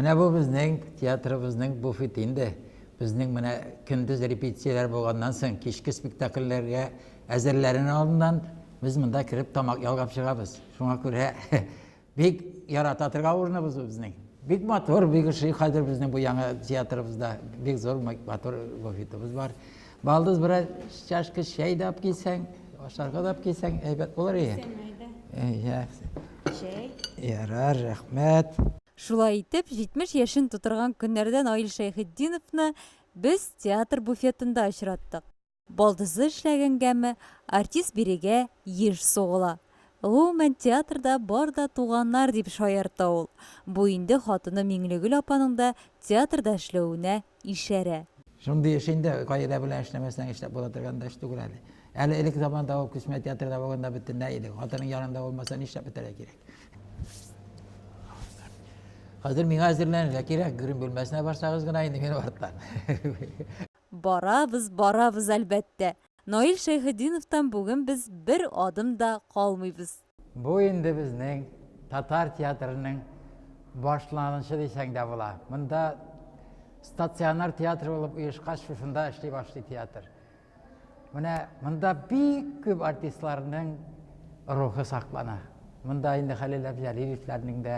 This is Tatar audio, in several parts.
Менә бу безнең театрыбызның буфеты инде. Безнең менә көндез репетицияләр булганнан соң, кичке спектакльләргә әзерләрен алдыннан без монда кереп тамак ялгап чыгабыз. Шуңа күрә бик ярата торган урыныбыз бу безнең. Бик матур, бик ошый хәзер безнең бу яңа театрыбызда. Бик зур матур буфетыбыз бар. Балдыз берәр чашка чәй дә алып килсәң, ашарга да алып килсәң, әйбәт булыр иде. Чәй. Ярар, рәхмәт. Шулай итеп, 70 яшен тутырган көннәрдә Наил Шәйхетдиновны без театр буфетында очраттык. Балдызы эшләгәнгәме, артист бирегә еш сугыла. Гомумән, театрда бар да туганнар, дип шаярта ул. Бу инде хатыны Миңлегөл апаның да театрда эшләвенә ишарә. Шундый эш инде гаилә белән эшләмәсәң эшләп була торган да эш түгел әле. Әле элек заманда ул күчмә театрда булганда бөтенләй иде. Хатының янында булмаса нишләп бетәргә кирәк. Хәзер миңа әзерләнергә кирәк, грим бүлмәсенә барсагыз гына инде мин арттан. Барабыз, барабыз, әлбәттә. Наил Шәйхетдиновтан бүген без бер адым да калмыйбыз. Бу инде безнең татар театрының башланышчы дисәң дә була. Монда стационар театр булып оешкач, шушында эшли башлый театр. Менә монда бик күп артистларның рухы саклана. Монда инде Хәлил Әбҗәлилевләрнең дә,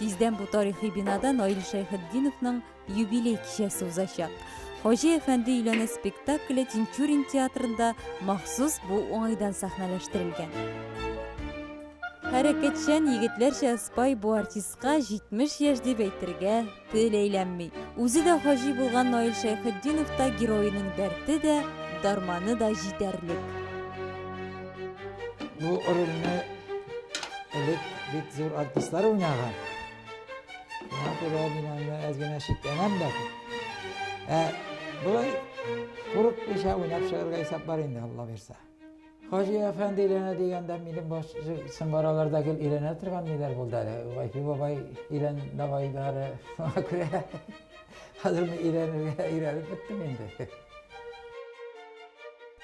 Тиздән бу тарихи бинада Наил Шәйхетдиновның юбилей кичәсе узачак. Хаҗи әфәнде өйләнә спектакле Тинчурин театрында махсус бу уңайдан сәхнәләштерелгән. Хәрәкәтчән егетләрчә спай бу артистка 70 яшь дип әйтергә тел әйләнми. Үзе дә хаҗи булган Наил Шәйхетдиновта героеның дәрте дә, дарманы да җитәрлек. Бу рольне элек бит зур артистлар уйнаган. Шуңа күрә мин аны әз генә шикләнәм дә. Ә болай курыкмыйча уйнап чыгарга исәп бар инде, Алла бирсә. Хаҗи әфәнде өйләнә дигәндә, минем баш сыңгараларда гел өйләнә торган ниләр булды әле. Вайфи бабай өйлән давайлары. Шуңа күрә хәзер мин өйләнергә өйрәнеп беттем инде.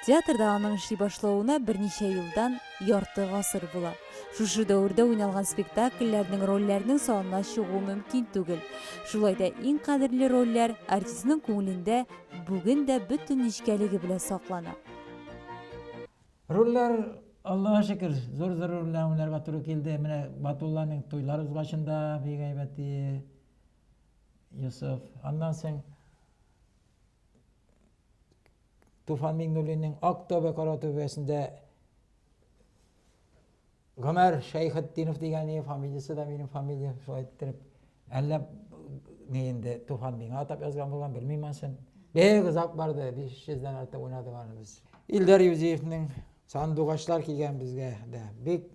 Театрда аның эшли башлавына берничә елдан ярты гасыр була. Шушы дәвердә уйналган спектакльләрнең рольләрнең санына чыгу мөмкин түгел. Шулай да иң кадерле рольләр артистның күңелендә бүген дә бөтен нечкәлеге белән саклана. Рульләр, Аллага шөкер, зур зур рульләр уйнарга туры килде. Менә Батулланың туйлар узгачында бик әйбәт Йосыф. Аннан соң Туфан Миңнуллинның Ак төбе, кара төбәсендә Гомәр Шәйхетдинов дигән и фамилиясе дә минем фамилия шулай иттереп әллә ни инде Туфан миңа атап язган булган белмим ансын. Бик озак барды, 500 дән артык уйнадык аны без. Илдар Юзиевның сандугачлар кигән безгә дә бик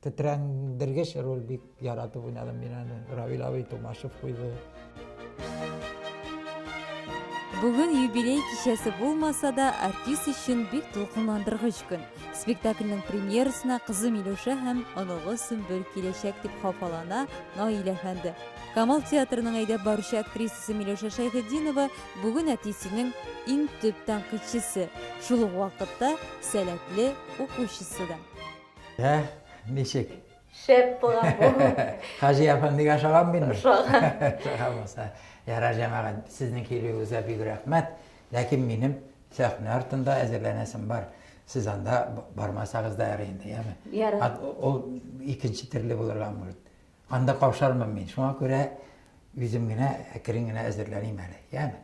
тетрәндергеч роль бик Яратып уйнадым мин аны. Равил абый Тумашев куйды. Бүген юбилей кичәсе булмаса да, артист өчен бик дулкынландыргыч көн. Спектакльнең премьерасына кызы Милюша һәм оныгы Сөмбел киләчәк дип хафалана Наилә әфәнде. Камал театрының әйдәп баручы актрисасы Милюша Шәйхетдинова бүген әтисенең иң төп тәнкыйтьчесе, шул ук вакытта сәләтле укучысы да. Ә, ничек? Шәп булган бу. Хаҗи апам бик ашаган бит. Ашаган. Ашаган булса. Яра җәмәгать, сезнең килүегезгә бик рәхмәт. Ләкин минем сәхнә артында әзерләнәсем бар. Сез анда бармасагыз да ярый инде, яме. Яра. Ул икенче төрле булырга мөмкин. Анда каушармын мин. Шуңа күрә үзем генә әкрен генә әзерләним әле, яме.